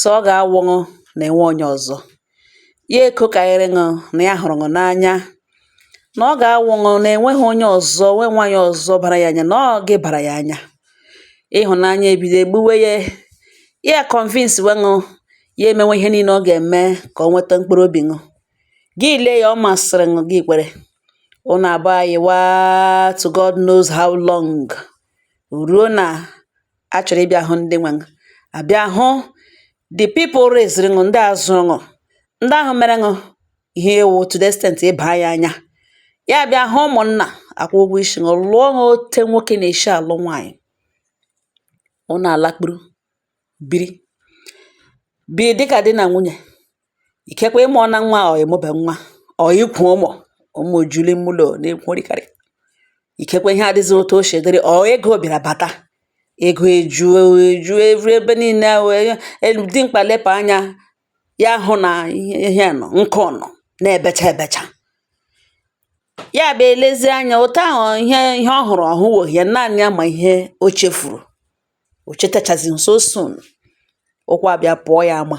sọ ọ gà-awụ ṅụ nà ènwe onye ọ̀zọ, ya èkwukàrịrị ṅụ nà ya hụ̀rụ̀ ṅụ n'anya, nà ọ gà-awụ ṅụ nà ènweghị onye ọ̀zọ nwe nwaanyị ọ̀zọ bara ya anya nà ọ gị bàrà ya anya, ịhụ̀nanya ebido ègbuwe ye, ya convince we ṅụ, ya èmewe ihe niinė ọ gà-ème kà ọ nweta mkpụrụ obì ṅụ, gị lee ya ọ màsị̀rị̀ ṅụ gị kwere, ụnụ abụọ ayịwa to God knows how long, ruo na a chọrọ ịbịa hụ ndị nwe ṅụ abịa hụ the people raised ṅụ ndị a zụrụ ṅụ ndị ahụ mere ṅụ ihe ị wụ to the extent ị ba ya anya ya bịa hụ ụmụnna akwụọ ụgwọ isi ṅụ lụọ ṅụ ote nwoke na-esi alụ nwaanyị ụnụ alakpuru biri bi dịka di na nwunye ikekwe ị mụọna nwa o ị mụbe nwa o ikwu ụmụ ụmụ ju l'ime ụlọ na-ekwurikarị ikekwe ihe adịghị otu o si dịrị ọ ego bịara bata ego eju eju evu ebe niile dimkpa lepụ anya ya hụ na ihe nọ nkụ nọ na-ebecha ebecha ya bụ elezie anya otu ahụ ihe ihe ọ hụrụ ọ hụwa ya n'anya ma ihe o chefuru o chetachazi so soon ụkwụ abịa pụọ ya ama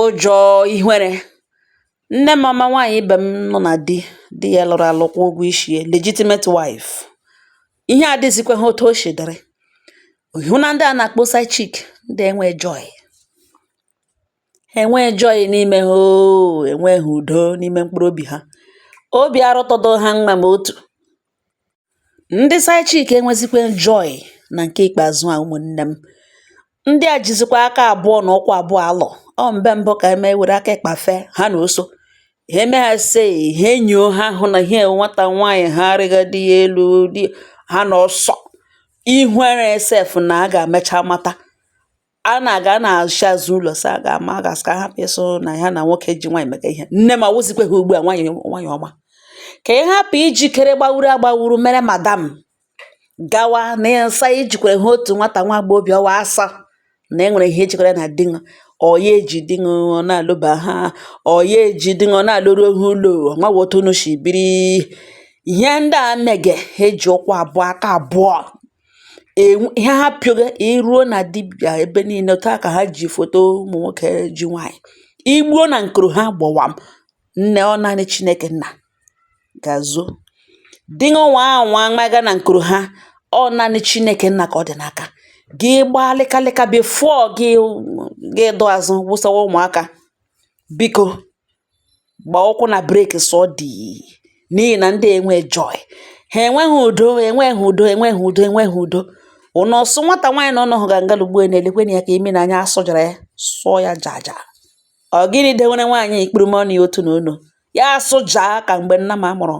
Ụjọ ihere. Nne m ọma nwaanyị ibe m nọ na di, di ya lụrụ alụ kwụọ ụgwọ isi ya, legitimate wife. Ihe adịzịkwaghị otu o si dịrị. Ị hụ na ndị a na-akpọ side chick, ndị a enweghị joy. Ha enweghị joy n'ime ha oo, ha enweghị udo n'ime mkpụrụ obi ha. Obi arụtụghị ha mma ma otu. Ndị side chick enwezikwe joy na nke ikpeazụ a ụmụnne m. Ndị a jizikwa aka abụọ na ụkwụ abụọ alụ. Ọ mbe mbụ ka eme were aka ịkpa fee ha na oso. Ha eme ha sị ha enyoo ha hụ na ihe nwata nwaanyị ha arịga di ya elu dị ha na ọsọ. Ihere sef na a ga-emecha mata a na-aga a na-esi azụ ụlọ sị a ga-ama a ga-asị ka ha hapụ ịsị na ha na nwoke ji nwaanyị mega ihe nne m awụzikwe ha ugbu a nwaanyị nwaanyị ọma ka ị hapụ ijikere gbawuru agbawuru mere madam gawa na ịsa ijikwere ha otu nwata nwa agbọghọbịa ọwa asa na e nwere ihe ejikọrọ na di ṅụ ọ ya eji di ṅụ ọ na-alọba ha ọ ya eji di ṅụ ọ na-alọru ha ụlọ ọnwaghị otu unu si biri ihe ndị a mege ha eji ụkwụ abụọ aka abụọ ihe ha pịoga iruo na dibịa ebe niile otu a ka ha ji foto ụmụ nwoke ji nwaanyị igbuo na nkuru ha gbawam nne ọ naanị chineke nna ga-azọ di ṅụ nwa ahụ nwa maga na nkuru ha ọ naanị chineke nna ka ọ dị n'aka gị gbaa lịkalịka before gị gị dụ azụ wụsawa ụmụaka biko gba ụkwụ na breki sọ dị n'ihi na ndị enwe joy ha enweghị udo enweghị udo enweghị udo enweghị udo ụnụ ọsụ nwata nwaanyị na ọnọhụ ga nga lugbo na-elekwenụ ya ka imi na anya asụjara ya sụọ ya jaja ọ gịnị dewere nwaanyị ikpuru m ọnụ ya otu na ọnụ ya asụja ka mgbe nnama mụrụ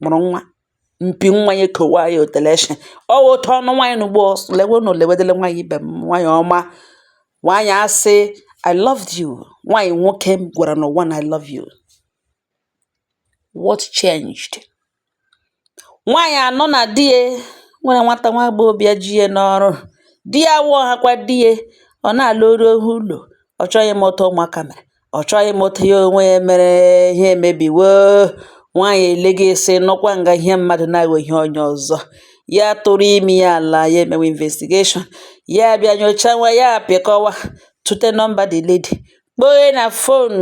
mụrụ nwa mpi nwa ya ekowa ya otele nshị ọ wụ otu ọnụ nwaanyị n'ugbo lewe na olewedele nwaanyị ibe m nwaanyị ọma nwaanyị asị i loved you nwaanyị nwoke m gwara n'ụwa na i love you what changed nwaanyị anụ na di ya nwere nwata nwa agbọghọbịa ji ya n'ọrụ di ya awụghịkwa di ya ọ na-alọrughị ụlọ ọ chọghị ịma otu ụmụaka mere ọ chọghị ịma otu ya onwe ya mere ihe emebiwo nwaanyị elega sị nọkwa nga ihe mmadụ na-aghọ ihe onye ọzọ ya tụrụ imi ya ala ya emewe investigation ya bịa nyochawa ya apịkọwa tụte nọmba the lady kpoghe na fon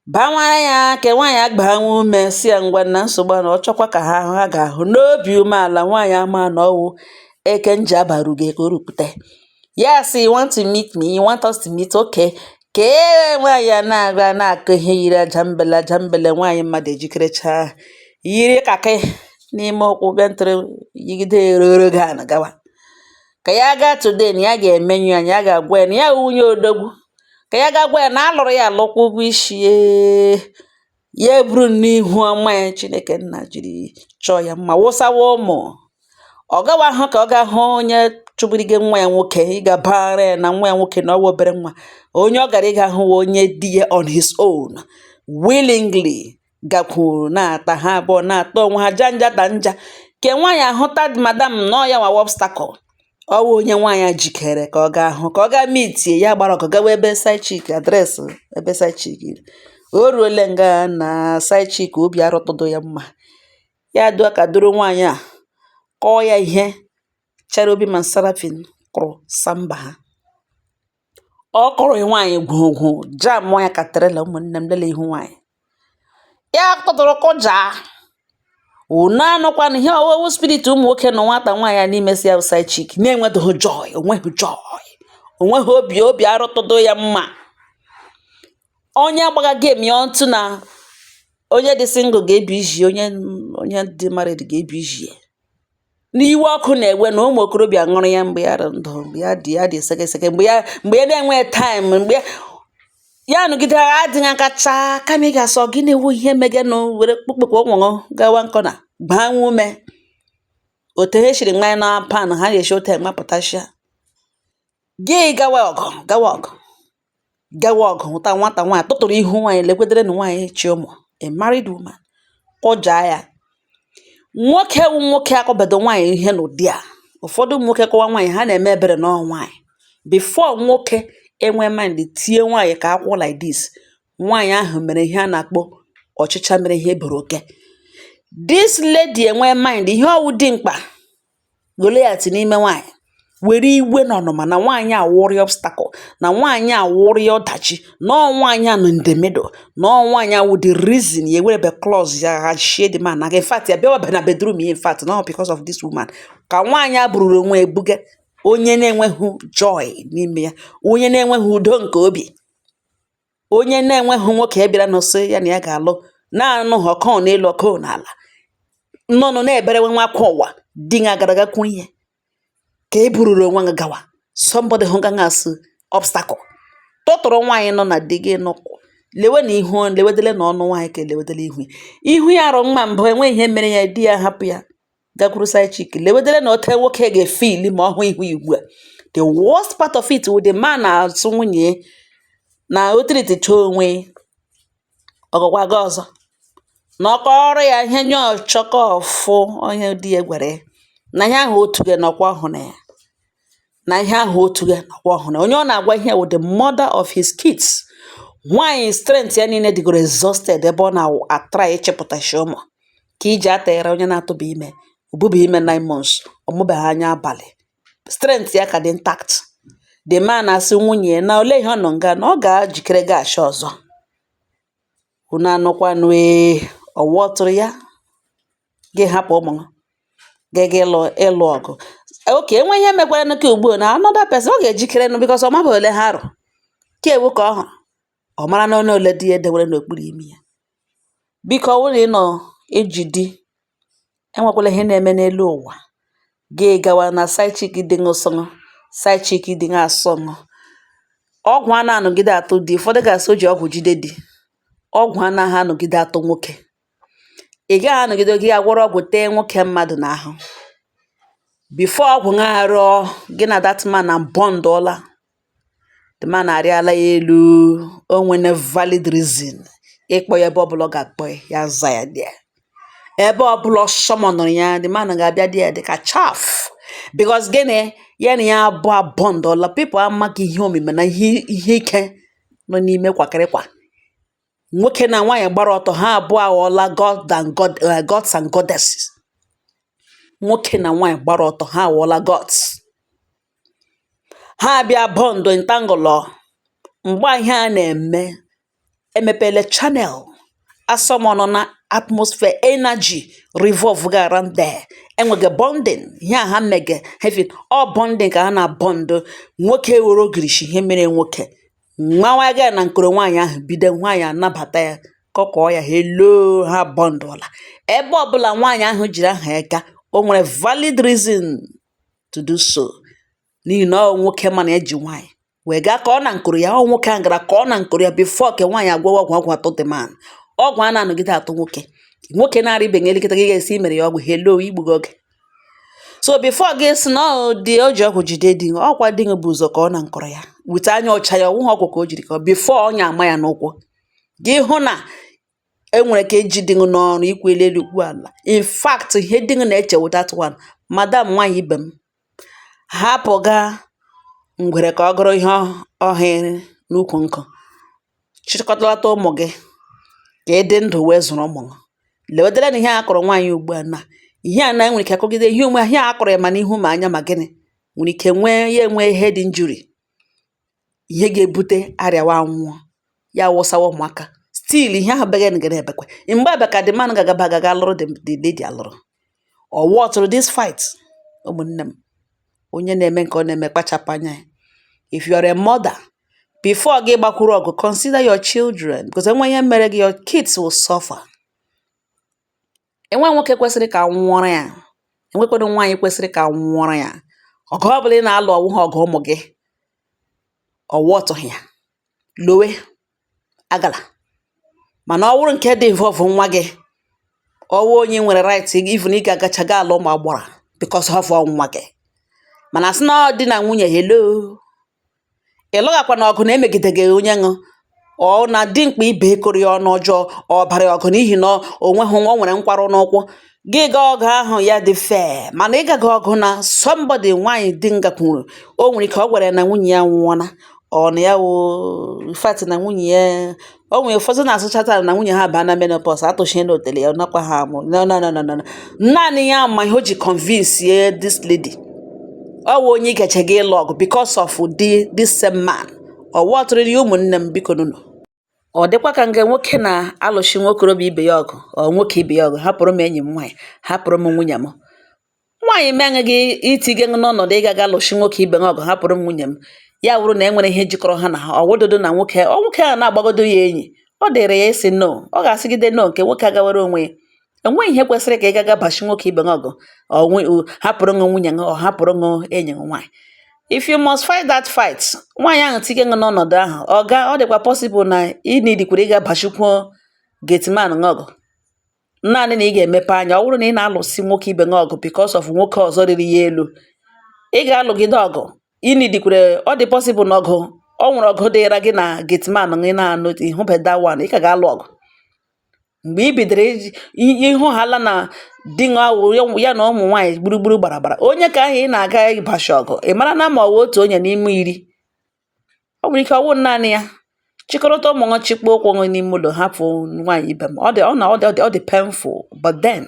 bawara ya ka nwaanyị agbaa nwa ume sị ya ngwa na nsogbu na ọ chọkwa ka ha hụ ha ga-ahụ n'obi umeala nwaanyị ama na ọ wụ eke nji abarugo ka o rupụta ya sị you want to meet me you want us to meet okay ka nwaanyị a na-aga na-akụ ihe yiri ajambele ajambele nwaanyị mmadụ ejikerechaa yiri kakị n'ime ụkwụ bịa tụrụ yigide eroro gị ana gawa ka ya gaa today na ya ga-emenyu ya na ya ga-agwa ya na ya nwunye odogwu ka ya ga gwa ya na a lụrụ ya alụ kwụọ ụgwọ isi ee ya eburunụ ihu ọma ya chineke nna jiri chọọ ya mma wụsawa ụmụ ọ gawaghị ka ọ ga hụ onye chụbirige nwa ya nwoke ịga bara ya na nwa ya nwoke na ọ wụ obere nwa onye ọ gara ịga hụ wụ onye di ya on his own willingly gakwuru na-ata ha abụọ na-ata onwe ha janja ta nja nke nwaanyị ahụta madam na ọ ya nwa wụ obstacle ọ wụ onye nwaanyị a jikere ka ọ gaa hụ ka ọ gaa mitie ya gbara ọkụ gawa ebe side chick address ebe side chick o ruole nga na side chick obi arụtụdụ ya mma ya dọọ aka dọrọ nwaanyị a kụọ ya ihe cherubim and seraphim kụrụ samba ha ọ kụrụ nwaanyị gwogwo jam ya ka trailer ụmụnne m lele ihu nwaanyị ya tụtụrụ kụja unu anụkwana ihe ọ wụ wụ spirit ụmụ nwoke nọ nwata nwaanyị a n'ime sị side chick na-enweghị joy o nweghị joy o nweghị obi obi arụtụdo ya mma onye agbaga game ya ọtụ na onye dị single ga-ebi iji onye dị married ga-ebi iji n'iwe ọkụ na-ewe na ụmụ okorobịa ṅụrụ ya mgbe ya dị ndụ mgbe ya dị ya dị sekeseke mgbe ya mgbe ya na-enweghị taịm mgbe ya- ya nọgide agha adịghị akacha kama ị ga-asọ gị na-ewu ihe megenụ were kpụkpụkpụ ụmụṅụ gawa nkọ na gbaa nwa ume otu ha siri manye na pan ha ga-esi otu mapụtachia gị gawa ọgụ gawa ọgụ gawa ọgụ hụta nwata nwaanyị tụtụrụ ihu nwaanyị lekwedere na nwaanyị chị ụmụ a married woman kụjaa ya nwoke wụ nwoke akụbedu nwaanyị ihe n'ụdị a ụfọdụ ụmụ nwoke kụwa nwaanyị ha na-eme ebere na ọ wụ nwaanyị before nwoke enwe mind tie nwaanyị ka akwụ like this nwaanyị ahụ mere ihe a na-akpọ ọchịcha mere ihe buru oke this lady enwe mind ihe ọ wụ dimkpa Goliat n'ime nwaanyị were iwe na ọnụma na nwaanyị a wụrị obstacle na nwaanyị a wụrị ọdachi na nwaanyị a nọ in the middle na nwaanyị a wụ the reason ya ewere be claws ya hashie the man na in fact ya bịawa be na bedroom ya if not because of this woman ka nwaanyị a bururu onwe ebuga onye na-enweghị joy n'ime ya onye na-enweghị udo nke obi onye na-enweghị nwoke ya bịara na-asị ya na ya ga-alụ na-anụ ha ọkụ n'elu ọkụ n'ala nọnụ na-eberewe nwa akwa ụwa di gị agaraga kwuo ihe ka e bururu onwe gị gawa somebody hụ gị asị obstacle tụtụrụ nwaanyị nọ na di gị nọkwụ lewe na ihu lewedele na ọnụ nwaanyị ka elewedele ihu ya ihu ya rị mma mbụ enweghị ihe mere ya di ya hapụ ya gakwuru side chick lewedere na otu nwoke ga-efeel ma ọ hụ ihu ya ugbu a the worst part of it wụ the man na-asị nwunye na ọ treaticha onwe ọ gakwa ga ọzọ na ọ kọọrọ ya ihe nye ọchọkọ ọfụ onye di ya gwara ya na ihe ahụ otu gị nọkwa ọhụ na ya na ihe ahụ otu gị nọkwa ọhụ na onye ọ na-agwa ihe wụ the mother of his kids nwaanyị strength ya niile dịgoro exhausted ebe ọ na-atry ịchịpụtasị ụmụ ka i ji atụnyere onye na-atụba ime o buba ime nine months ọ mụbeghị anya abalị strength ya ka dị intact the man asị nwunye na ole ihe ọ nọ nga na ọ ga-ejikere gashi ọzọ unu anụkwanụ ee ọwa ọtụrụ ya gị hapụ ụmụ gị ga ịlụ ọgụ oke enwe ihe mekwara n'oke ugbu na another person ọ ga-ejikere nụ because ọ maba ole ha rị ka ewu ka ọ hụrụ ọ mara na onye ole di ya edewere n'okpuru imi ya biko ọ bụrụ ị nọ eji di enwekwala ihe na-eme n'elu ụwa gị gawa na side chick dị ṅụsọṅụ side chick dị ṅasọṅụ ọgwụ anaghị anọgide atụ di ụfọdụ ga-asị o ji ọgwụ jide di ọgwụ anaghị anọgide atụ nwoke ị gaghị anọgide gị agwọrọ ọgwụ tee nwoke mmadụ n'ahụ before ọgwụ ṅa arụọ gị na that man abondọla the man arịala ya elu o nwene valid reason ịkpọ ya ebe ọbụla ọ ga-akpọ ya ya za ya there ebe ọbụla ọ summonụrụ ya the man ga-abịa there dị ka chaff because gịnị ya na ya abụọ abondọla people amaghị ihe omimi na ihe ike nọ n'ime kwakịrịkwa nwoke na nwaanyị gbara ọtọ ha abụọ aghọọla god and god eh, gods and goddesses nwoke na nwaanyị gbara ọtọ ha aghọọla gods ha abịa bond entangle mgbe ihe a na-eme emepele channel asọmọnụ na atmosphere energy revolve ga around there enwege bonding ihe ha mege heaven ọ bonding ka ha na-abond nwoke were ogirishi ihe mere nwoke nwawa ga na nkoro nwaanyị ahụ bido nwaanyị anabata ya kọkọọ ya hello ha bondụla ebe ọbụla nwaanyị ahụ jiri aha ya gaa o nwere valid reason to do so n'ihi na ọ nwoke mana e ji nwaanyị wee gaa ka ọ na nkoro ya ọ nwoke ahụ gara ka ọ na nkoro ya before ke nwaanyị agwọwa ọgwụ atụ the man ọgwụ a na-anọgide atụ nwoke nwoke na-arịbeghị elekọta gị ga-esi mere ya ọgwụ hello igbugo oge so before gị sị na ọ dị o ji ọgwụ jide di gị ọkwa di gị bụ ụzọ ka ọ na nkoro ya with anya ọcha ya ọ wụghị ọgwụ ka o jiri ka before ọnya ama ya n'ụkwụ gị hụ na enwere ka e ji di gị n'ọrụ ukwu elu ukwu ala in fact ihe di gị na-eche wụ that one madam nwaanyị ibe m hapụ gaa ngwere ka ọ gụrụ ihe ọ hụrụ n'ukwu nkụ chịkọtalata ụmụ̀ gị kà ị dị ndụ̀ wee zụ̀rụ̀ ụmụ̀ gị lèwèdere nà ihe a kụrụ nwaànyị ùgbu à nà ihe à nà e nwèrè ike kụgide ihe ònwe ihe à kụrụ ya mà n'ihu mà anya mà gịnị nwèrè ike nwee ya enwe head injury ihe ga-ebute arịàwa anwụọ ya wụsawa ụmụ̀ aka still ihe ahụ̀ bega nà gà na-èbèkwe ị̀ m̀gbe àbịà kà the man gà-àgaba àgà ga-alụrụ the lady àlụrụ ọ worthụrụ this fight ụmụnne m onye na-eme nke ọ na-eme kpachapụ anya ya if you are a mother before gị gbakwuru ọgụ consider your children because enwe ihe mere gị your kids will suffer enwe nwoke kwesịrị ka a nwụọrọ ya enwekwado nwaanyị kwesịrị ka a nwụọrọ ya ọgụ ọ bụla ị na-alụ ọ wụha ọgụ ụmụ gị ọ worthụghị ya lowe agala mana ọ wụrụ nke dị involve nwa gị ọ wụ onye i nwere right even ị ga-agacha ga alụ ụmụ agbọrọ because of nwa gị mana a sị na ọ di na nwunye hello ị lụgakwana ọgụ na-emegide gị onye ṅụ ọ na dimkpa ibe akọrọ ya ọnụ ọjọọ ọ bara ya ọgụ n'ihi na onweghị nwa nwere nkwarụ n'ụkwụ gị ga ọgụ ahụ ya dị fair mana ị gaga ọgụ na somebody nwaanyị di gị gakwuru o nwere ike ọ gwara ya na nwunye ya nwụọna ọ na ya wo fat na nwunye ya o nwere ụfọdụ na-asụchata na nwunye ha baa na menopause atụchie na otele ya nakwa ha amụ naanị ya ma ihe o ji convince ye this lady ọ wụ onye ị gachaga ịlụ ọgụ because of this same man ọ worthụrụ ya ụmụnne m biko nụnụ Ọ dịkwa ka mgbe nwoke na-alụchi nwokorobịa ibe ya ọgụ or nwoke ibe ya ọgụ hapụrụ m enyi m nwaanyị hapụrụ m nwunye m nwaanyị mee gị itige n'ọnọdụ ịgaga alụchi nwoke ibe ṅụ ọgụ hapụrụ m nwunye m ya wụrụ na e nwere ihe jikọrọ ha na ha ọ wụdodo na nwoke a na-agbagodo ya enyi ọ dịrị ya ịsị no ọ ga-asịgide no nke nwoke agawara onwe ya enweghị ihe kwesịrị ka ị gaga bachi nwoke ibe gị ọgụ hapụrụ ṅụ nwunye gị or hapụrụ ṅụ enyi gị nwaanyị if you must fight that fight nwaanyị ahụ tinye gị n'ọnọdụ ahụ ọ ga ọ dịkwa possible na ị needikwara ịga bachikwuo gateman gị ọgụ naanị na ị ga-emepe anya ọ bụrụ na ị na-alụsi nwoke ibe gị ọgụ because of nwoke ọzọ rịrị ya elu ị ga-alụgide ọgụ ị needikwara ọ dị possible na ọgụ ọ nwere ọgụ dịra gị na gateman gị na-anụ ị hụbe that one ị ka ga-alụ ọgụ mgbe i bidoro iji i- ịhụ haala na di ṅụ awụ ya- ya na ụmụ nwaanyị gburugburu gbara gbara onye ka ahụ ị na-aga ịbashi ọgụ ị marana ma ọ wụ otu onye n'ime iri ọ nwere ike ọ wụ naanị ya chịkọrọta ụmụ ṅụ chịkpọ ụkwụ ṅụ n'ime ụlọ hapụ nwaanyị ibe m ọ dị ọ na ọ dị ọ dị ọ dị painful but then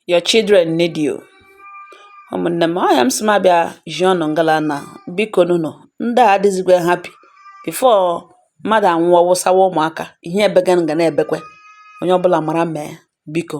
your children need you ụmụnne m ọ ya m sị m abịa zi unu ngala na biko nụnụ ndị a adịzikwa happy before mmadụ anwụọ wụsawa ụmụaka ihe ebega nga na-ebekwe onye ọbụla mara mee biko